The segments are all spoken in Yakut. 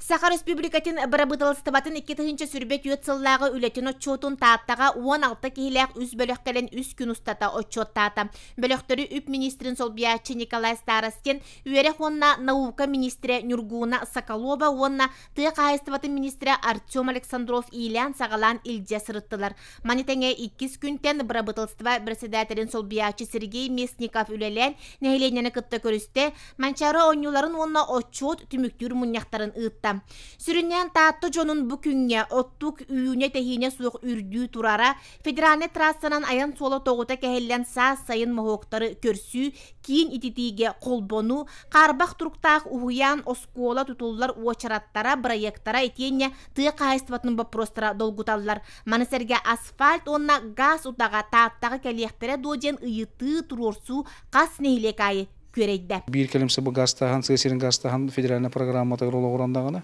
Саха Республикатын Бырабыыталыстыбатын икки тыһыынча сүрбэ түөрт сыллааҕы үлэтин отчуотун Тааттаҕа уон алта киһилээх үс бөлөхтөрүн үс күн устата отчуоттаата. Бөлөхтөрү үп министрин солбуйааччы Николай Старостин, үөрэх уонна наука министрэ Ньургууна Соколова уонна тыа хаһаайыстыбатын министрэ Артем Александров иилээн-саҕалаан илдьэ сырыттылар. Маны тэҥэ иккис күнтэн бырабытылыстыба бэрэссэдээтэлин солбуйааччы Сергей Местников үлэлээн нэһилиэнньэни кытта көрүстэ, Манчаары оонньууларын уонна отчуот түмүктүүр мунньахтарын ыытта. Сүрүннээн Таатта дьонун бу күҥҥэ оттук үүнэ-тэһиинэ суох үрдүү турара, Федеральнай трассанан айан суола тоҕута кэһиллэн саас сайын моһуоктары көрсүү, киин ититиигэ холбону, хаарбах туруктаах уһуйаан, оскуола тутуллар уочараттара, бырайыактара итиэннэ тыа хаһаайыстыбатын боппуруостара долгуталлар. Маны сэргэ асфальт уонна газ утаҕа Тааттаҕа кэлиэхтэрэ дуо диэн ыйытыы, туруорсуу хас нэһилиэк аайы күөрэйдэ. Биир кэлим сабы газтааһын, сыа сирин газтааһын федеральнай программатыгар олоҕуран даҕаны,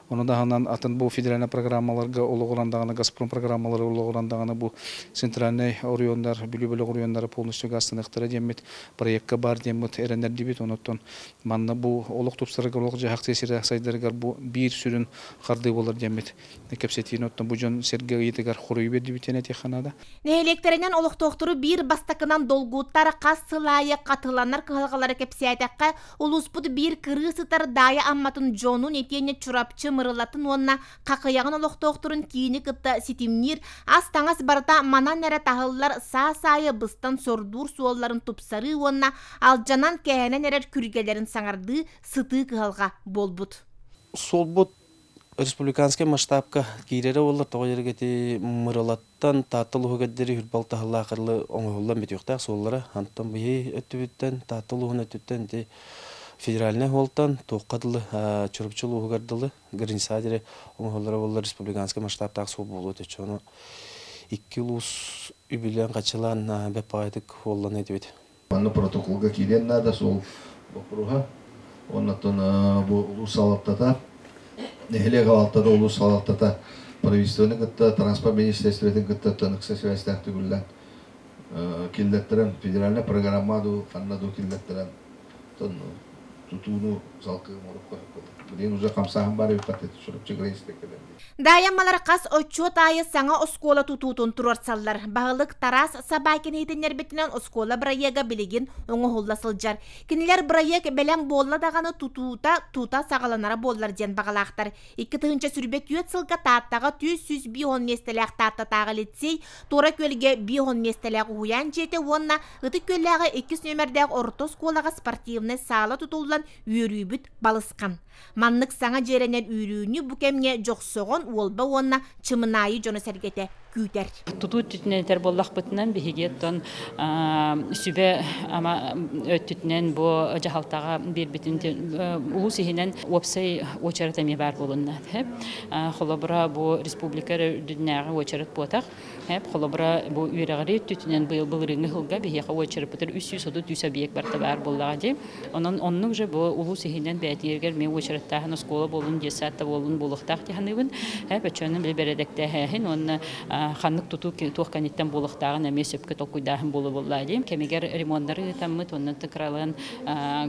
ону таһынан атын бу федеральнай программаларга олоҕуран даҕаны, Газпром программалара олоҕуран даҕаны бу центральнай оройуоннар, Бүлүү бөлөх оройуоннара полностью газтаныахтара диэммит, проекка баар диэммит эрэнэрдибит. Онуттан манна бу олох тупсарыгар, олох-дьаһах сыа сирэ сайдарыгар бу биир сүрүн хардыы буолар диэммит. кэпсэтиини оттон бу дьон сэргэ ыйытыгар хоруй бердибитиэн этиэхэ наада нэһилиэктэринэн олохтоохтору биир бастакынан долгуттар хас сыл аайы хатыланар кыһалҕалары кэпсээтэххэ улууспут биир кырыыс ытар даайа амматын дьонун итиэннэ чурапчы мырылатын уонна хахыйаҕын олохтоохторун киини кытта ситимниир ас таҥас барыта манан эрэ таһыллар саас аайы быстан сордуур суолларын тупсарыы уонна алдьанан кээнэн эрэр күргэлэрин саҥардыы сытыы кыһалҕа буолбут суолбут республиканскай масштабка киирэрэ буоллар тоҕо дьарык ити Мырылаттан Таатта улууһугэрдири үһүр балтаһылаах ырылы оҥоһуллан бүтүөхтээх суоллара антон биһи өттүбүттэн Таатта улууһун өттүттэн ити федеральнай оһолтон туохха дылы Чурупчу улууһугар дылы граница диэри оҥоһуллара буоллар республиканскай масштабтаах суол буолуо өтүччэ ону икки улуус үбүлээн-хаччылаан бэппаҕайытык уоллана этибит Манна протоколга киириэн наада суол боппуруоһа. Оннуттан бу улуус салалтата, нэһилиэк алалтата, улуус салалтата правительствоны кытта, транспорт министерствотын кытта ыкса сибээстээх төгүллэн киллэртэрэн, федеральнай программа дуу, ханна дуу киллэртэрэн тутууну салгыы оҥорукка билигин уже хамсааһын баар эбиппит Чурапчы край инспектордарын Даайаммалар хас отчуот аайы саҥа оскуола тутуутун туруорсаллар. Баһылык Тарас Собакин иһитиннэрбитинэн оскуола бырайыага билигин оҥоһулла сылдьар. Кинилэр бырайыак бэлэм буолла даҕаны тутуута тута саҕаланара буоллар диэн баҕалаахтар. Икки тыһыынча сүрбэ түөрт сылга Тааттаҕа түс сүүс биир уон миэстэлээх Тааттатааҕы лицей, Туора Күөлгэ биир уон миэстэлээх уһуйаан дьиэтэ уонна Ытык Күөллээҕи иккис нүөмэрдээх орто оскуолаҕа спортивнай саала тутуллан үөрүүбүт балысхан. Маннык саҥа дьиэрэнэр үүрүүнү бу кэмҥэ Дьохсоҕон Уолба уонна Чымынаайы дьоно-сэргэтэ күүтэр. Тутуу өттүтүнэн этэр буоллахпытына, биһиги оттон сүбэ-ама өттүтүнэн бу дьаһалтаҕа биэрбитин улуус иһинэн уопсай уочарат эмиэ баар буолунна. Холобура, бу республика үрдүнээҕи уочарат буотах Эп, холобура, бу үөрэҕири өттүтүнэн быйыл былырыыҥҥы сылга биһиэхэ уочарыппытыгар үс сүүс отут сүүс объект барта баар буоллаҕа дии. Онон оннук же бу улуус иһинэн бээтиэригэр эмиэ уочараттааһын оскуола буоллун, диэс саатта буоллун буолуохтаах дии саныыбын. Эп өчөөнү били бэрэдэктээһээһин уонна ханнык тутуу туох кэнниттэн буолуохтааҕын эмиэ сөпкө толкуйдааһын буолуо буоллаа дии. Кэмигэр ремоннары ыытаммыт уонна кыралаан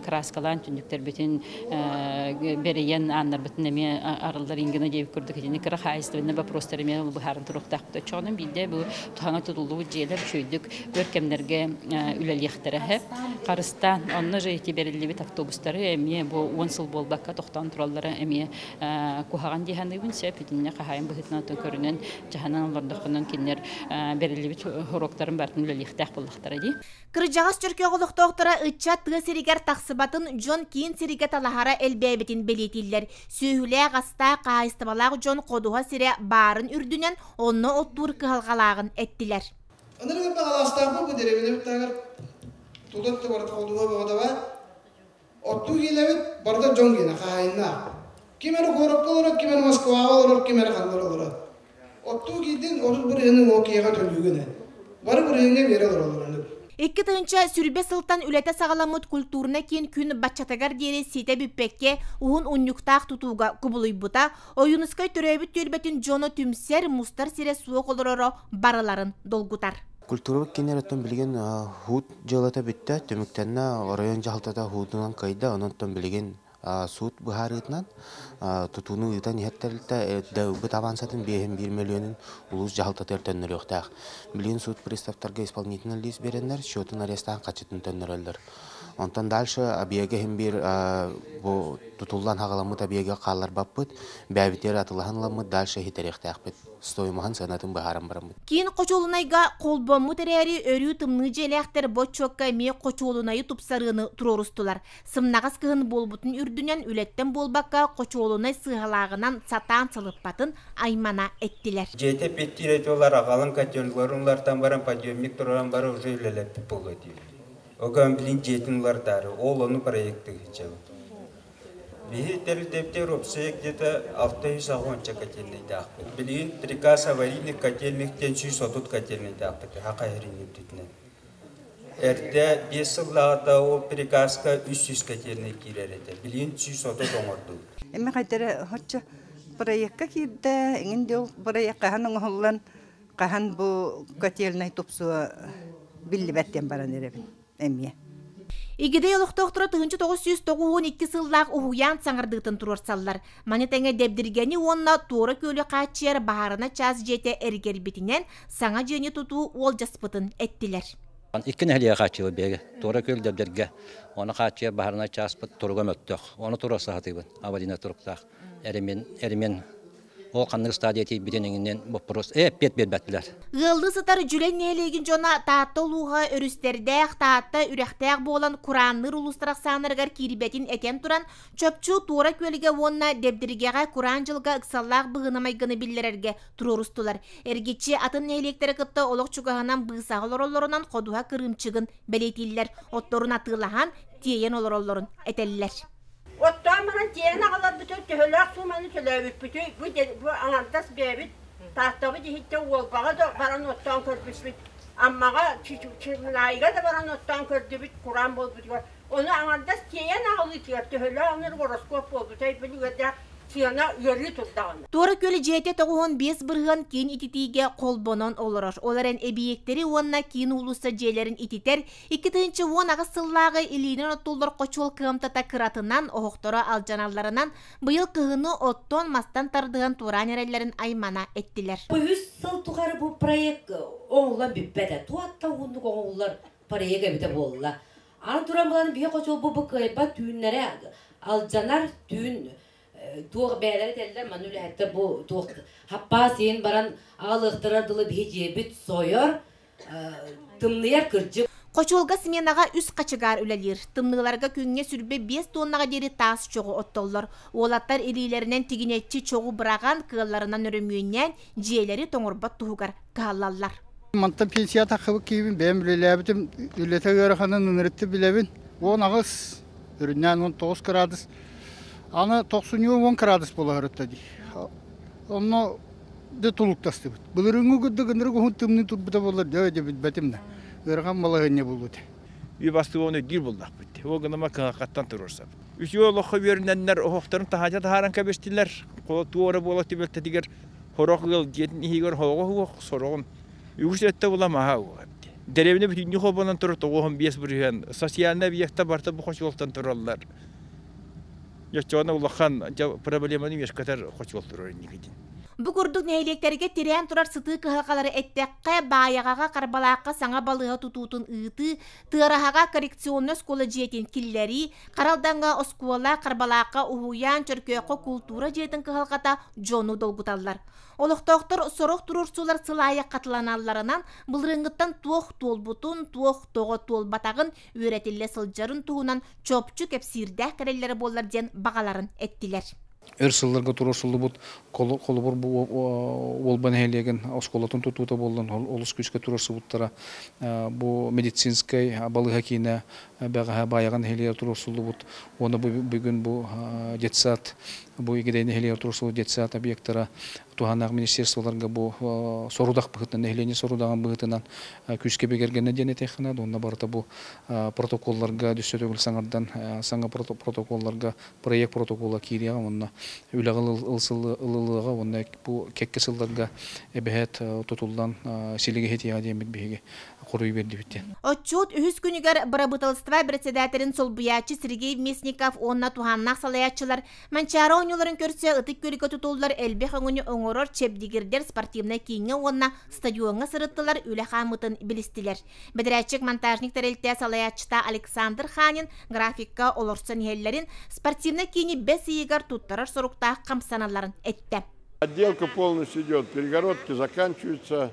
краскалаан түннүктэрбитин бэрийэн ааннарбытын эмиэ арыллар ингина диэбит курдук итини кыра хаһаайыстыбаннай боппуруостар эмиэ быһааран туруохтаахпыт оччоҕуна биирдэ бу туһаҥа тутуллубут дьиэлэр үчүөйдүк өр кэмнэргэ үлэлиэхтэрэ хэп харыстаан онно же эти бэриллибит автобустары эмиэ бу уон сыл буолбакка тохтоон тураллара эмиэ куһаҕан дии саныыбын сөп итиннэ хаһаайын быһыытынан көрүнэн дьаһанан олордоххунан кинилэр бэриллибит хоруоктарын бартын үлэлиэхтээх буоллахтара дии Кырдьаҕас чөркөөх олохтоохторо ыччат тыа сиригэр тахсыбатын дьон киин сиргэ талаһара элбээбитин бэлиэтииллэр. Сүөһүлээх-астаах хаһаайыстыбалаах дьон ходуһа сирэ баарын үрдүнэн онно оттуур кыһалҕалааҕын эттилэр. Ынырыгы таһалаастаахпын бу дэриэбинэбит таһыгар тутар табар ходуһа буолуодаба. Оттуур ийэлэбит барыта дьон киэнэ, хаһаайыннаах. Ким эрэ куоракка олорор, ким эрэ Москваҕа олорор, ким эрэ ханна эрэ олорор. Оттуу киирдин, отут бырыһыаны уол киһиэхэ төлүүгүн ээ. Бары бырыһыҥҥа үөрэ олороллор оннук. Икки тыһыынча сүүрбэ сылтан үлэтэ саҕаламмыт культурнай киин күн баччатыгар диэри ситэ бүппэккэ, уһун унньуктаах тутууга кубулуйбута, Ойуунускай төрөөбүт түөлбэтин дьоно түмсэр, мустар сирэ суох олороро барыларын долгутар. Культурабыт кииннэриттэн билигин Хуут Дьыалата бүттэ, түмүктэннэ. Оройуон дьаһалтата уһуутунан кыайда. Онон билигин суут быһаарыытынан тутууну ыытан иһэр тэрилтэ бытаабаансатын биэһин биир мөлүөнүн улуус дьаһалтатыгар төннөрүөхтээх. Билигин суут приставтарга исполнительнай лиис биэрэннэр, счетун арестаан хаччытын төннөрөллөр. Онтон дальше объега иһин биир бу тутуллан хаҕаламмыт объега хаалларбаппыт, бэйэбитигэр атылаһан ыламмыт, дальше иһитэриэхтээхпит. стоимоһын сыанатын быһааран бараммыт. Киин хочуолунайга холбоммут эрээри, өрүү тымныы дьиэлээхтэр бочуокка эмиэ хочуолунайы тупсарыыны туруорустулар. Сымнаҕас кыһын буолбутун үрдүнэн үлэттэн буолбакка, хочуолунай сыыһалааҕынан сатаан сылыппатын аймана эттилэр. Дьиэтэ эппиэттиир этэ, олор аҕалан котельгаларын улаартан баран, подъемник тураран баран уже үлэлэппит буолуо диир. Оҕо, блин, дьиэтин улардаары, ол ону проектыы сылдьабыт. Биһи тэрилтэбитэ Робсея где-то алта үс уонча котельнайдаахпыт. Билигин Приказ аварийных котельниктен сүүс отут котельнайдаахпыт аһа хайырынньырбитинэн. Эрдэ биэс сыллааҕыта ол приказка үс сүүс котельнай киирэр этэ. Билигин сүүс отут оҥордубут. Эми хайдара хоччу проекка киирдэ, эҥин дьыл проект хаһан оҥоһуллан, хаһан бу котельнай тупсуо биллибэт диэн баран эрэбин. эмиэ. Игидэй олохтоохторо тыһынча тоҕус сүүс тоҕус уон икки сыллаах уһуйаан саҥардыытын туруорсаллар. Маны тэҥэ Дэбдиргэни уонна Туора Күөлү хааччыйар баһаарына чаас дьиэтэ эргэрбитинэн саҥа дьиэни тутуу уолдьаспытын эттилэр. Икки нэһилиэк хааччыйбыт биһиги Туора Күөл Дэбдиргэ уонна хааччыйар баһаарынай чааспыт туруга мөлтөх. Ону туруорса сатыыбын. Аварийнай туруктаах. Эримин, эримин Ол ханнык стадия тиийбитин иҥинэн боппуруос эппиэт биэрбэттилэр. Ыаллыы сытар Дьүлэй нэһилиэгин дьоно Таатта улууһа өрүстэрдээх, Таатта үрэхтээх буолан кураанныыр улуустар ахсааннарыгар киирбэтин этэн туран, чопчу Туора Күөлгэ уонна Дэбдиргэҕэ кураан дьылга ыксаллаах быһыыны майгыны биллэрэргэ туруорустулар. Эргиччи атын нэһилиэктэрэ кытта олох чугаһынан быысаҕа олороллорунан ходуһа кырыымчыгын бэлиэтииллэр, отторун атыылаһан, тиэйэн олороллорун этэллэр. Оттоон баран тиэйэн аҕаларбытыгар төһөлөөх сууманы төлөөбүппүтүй, бу, бу аҥардас бэйэбит Тааттабыт иһиттэн Уолбаҕа да баран оттоон көрбүппүт, Аммаҕа Чымнаайга да баран оттоон көрдүбүт, кураан буолбутугар. Ону аҥардас тиэйэн аҕалыытыгар төһөлөөх ынырык гороскуоп буолбутай билигэр да сыана ыарыы турдаҕына. Туора Күөл дьиэтэ тоҕуһун биэс бырыһыан киин ититиигэ холбонон олорор. Ол эрэн эбийиэктэри уонна киин уулусса дьиэлэрин ититэр, Икки тыһыынча уон аҕыс сыллааҕы илиинэн оттуллар хочуол кыамтата кыратынан, оһохторо алдьаналларынан, быйыл кыһыны оттон, мастан тардыһан туораан эрэллэрин аймана эттилэр. Үһүс сыл тухары бу проект оҥоһуллан бүппэтэ. Туох да уһуннук оҥоһуллар проект эбитэ буолла. Аан туран булан биһиэхэ хочуол бу кыайбат түүннэрэ алдьанар түүн туох бэйэлэрэ этэллэр манна үлэһиттэр бу туох хаппаас иһин баран аҕалыахтара дылы биһи дьиэбит сойор тымныйар кырдьык Хочуолга сменаҕа үс хачыгаар үлэлиир. Тымныыларга күҥҥэ сүрбэ биэс туоннаҕа диэри таас чоҕу оттоллор. Уолаттар илиилэринэн тигинэччи чоҕу быраҕан, кыалларынан өрөмүөннээн, дьиэлэри тоҥорбот туһугар кыһаллаллар. Мантан пенсия таххыбыт киһибин, бэйэм үлэлээбитим, үлэтэ ыараханын ынырытты билэбин. Уон аҕыс Үрүннээн уон тоҕус кыраадыс. Аны тохсунньу уон кыраадыс буолаһырытта дии. Онно да тулуктастыбыт. Былырынгы курдук ынырык уһун тымныы турбута боллар дөө да билбэтим да. Ырахан балаһынньа булбут. И бастыгы он эгдир буллахпыт. Ол гыныма кыңакаттан туруорсап. Үсүө олоххо үөрүннэннэр оһохторун таһаача таһааран кэбистилэр. Туора буола түбөлтэтигэр хорох ыал дьиэтин иһигэр хоҕо суох сороҕун Үгүс өттө була маһа деревня бүтүннүү холбонон турар тоҕуоһун биэс бырыһыан социальнай объекта барта бу хочуолтан тураллар оччоҕуна улахан проблеманы үөскэтэр хочуол турар инникитин Бу курдук нэһилиэктэргэ тирээн турар сытыы кыһалҕалары эттэххэ, Баайаҕаҕа, Харбалаахха саҥа балыыһа тутуутун ыытыы, Тыараһаҕа коррекционнай оскуола дьиэтин киллэрии, Харалдаҥҥа оскуола, Харбалаахха уһуйаан, Чөркөөххө култуура дьиэтин кыһалҕата дьону долгуталлар. Олохтоохтор сорох туруорсуулар сылаайы хатыланалларынан былырыыҥҥыттан туох туолбутун, туох тоҕо туолбатаҕын, үөрэтиллэ сылдьарын туһунан чопчу кэпсиирдээх кэлэллэрэ буоллар диэн баҕаларын эттилэр. Эр сылларга туруорсуллубут холобур бу Уолба нэһилиэгин оскуолатын тутуута буоллан олус күүскэ туруорсубуттара. Бу медицинскэй балыыһа киинэ бэҕэһээ Баайаҕа нэһилиэк туруорсуллубут уонна бу бүгүн бу детсад бу Игидэй нэһилиэк туруорсуллубут детсад объектара туһанаах министерстволарга бу сорудах быһыытынан нэһилиэнньэ сорудаҕын быһыытынан күүскэ бигэргэннэ диэн этэххинэ уонна барыта бу протоколларга düşсө төгүл саҥардан саҥа протоколларга проект протокола киириэҕэ уонна үлэҕэ ылылыаҕа уонна бу кэкке сылларга эбэһээт тутуллан силигэһитиэҕэ диэммит биһиги хоруй бердибиттен. Отчут үһүс күнүгэр бырабыталыстыба председателин солбуйааччы Сергей Местников уонна туһааннаах салайааччылар Манчаара оонньууларын көрсө ытык күөлгэ tutуллар элбэх өҥүнү оҥорор чэбдигирдэр спортивнай кииҥҥэ уонна стадиоҥҥа сырыттылар үлэ хааммытын билистилэр. Бэдэрээтчик монтажник тэрилтэ салайааччыта Александр Ханин графикка олорсон иһэллэрин спортивнай киини бэс ыйыгар туттарар соруктаах хамсаналарын эттэ. Отделка полностью идет, перегородки заканчиваются,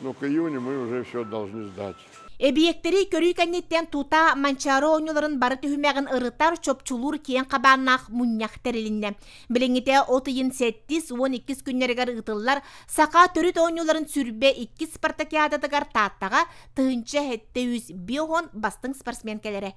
Но к июню мы уже все должны сдать. Эбийиэктэри көрүү кэнниттэн тута Манчаары оонньууларын бары түһүмэҕин ырытар, чопчулуур киэҥ хабааннаах мунньах тэрилиннэ. Билиҥҥитэ от ыйын сэттис уон иккис күннэригэр ыытыллар саха төрүт оонньууларын сүрбэ иккис спартакиадатыгар Тааттаҕа тыһыынча сэттэ сүүс биир уон бастыҥ спортсмен кэлэрэ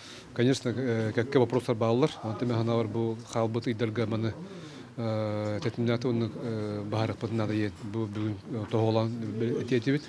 Конечно, кэккэ вопростар бааллар. Онтон мен ханаалар бу хаалбыт ыйдарга маны тэтимнааты уонна баһарыкпытын надайын бу бүгүн тоһолон этиэтибит.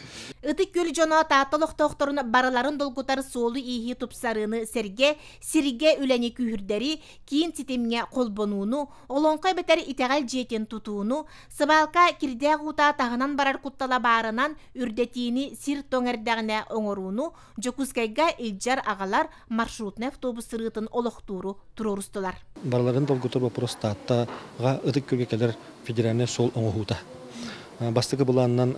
Ытык Гүл дьоно Таатта олохтоохторун барыларын долгутар суолу-ииһи тупсарыыны сэргэ сиргэ үлэни күүһүрдэри, киин ситимҥэ холбонууну, олоҥхо эбэтэр итэҕэл дьиэтин тутууну, сыбаалка кирдээх уута таһынан барар куттала баарынан үрдэтиини сир тоҥ эрдэҕинэ оҥорууну Дьокуускайга илдьэр аҕалар маршрутнай автобус сырыытын олохтууру туруорустулар. Барыларын долгутар боппуруос Тааттаҕа ытык күөлгэ кэлэр федеральнай суол оҥоһуута. Бастакы былаанынан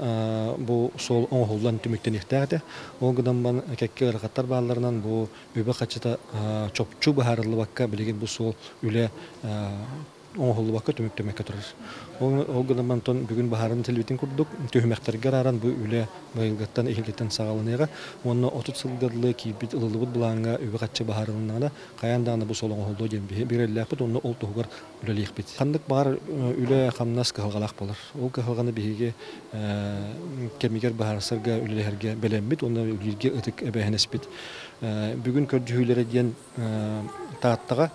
бу суол оҥоһуллан түмүктэниэхтээх этэ. Ол гынан кэккэ ыарахаттар баалларынан бу үбэ-хаччыта чопчу быһаарыллыбакка билигин бу суол үлэ оҥоһуллубакка түмүк түмэккэ турар. Ол гынан мантан бүгүн баһаарын телевидение курдук түһүмэхтэргэ арааран бу үлэ быйылгыттан иһилитэн саҕаланыаҕа уонна 30 сылга дылы киирбит ылыллыбыт былааҥҥа үбү-харчы быһаарылыннаҕына хайаан даҕаны бу сол оҥоһуллуо диэн биэрэллээхпит уонна ол туһугар үлэлиэхпит. Ханнык баҕар үлэ-хамнас кыһалҕалаах буолар. Ол кыһалҕаны биһиги кэмигэр быһаарсарга үлэлэһэргэ бэлэммит уонна үлэлииргэ ытык эбээһинэспит. Бүгүн көрдьүһүүлэрэ диэн Тааттаҕа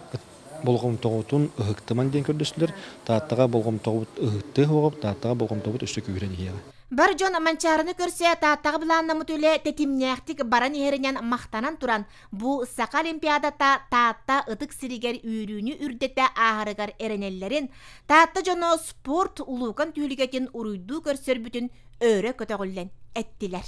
болҕомтоҕутун ыһыктымаҥ диэн көрдөстүлэр. Тааттаҕа болҕомтоҕут ыһыктыа суоҕа, Тааттаҕа болҕомтоҕут өссө күүһүрэн иһиэҕэ. Бар дьон Манчаарыны көрсө Тааттаҕа былааннаммыт үлэ тэтимнээхтик баран иһэринэн махтанан туран, бу Саха Олимпиадата Таатта ытык сиригэр үөрүүнү үрдэтэ ааһарыгар эрэнэллэрин, Таатта дьоно спорт улуукан түүлүгэтин уруйдуу көрсөрбүтүн өрө көтөҕүллэн эттилэр.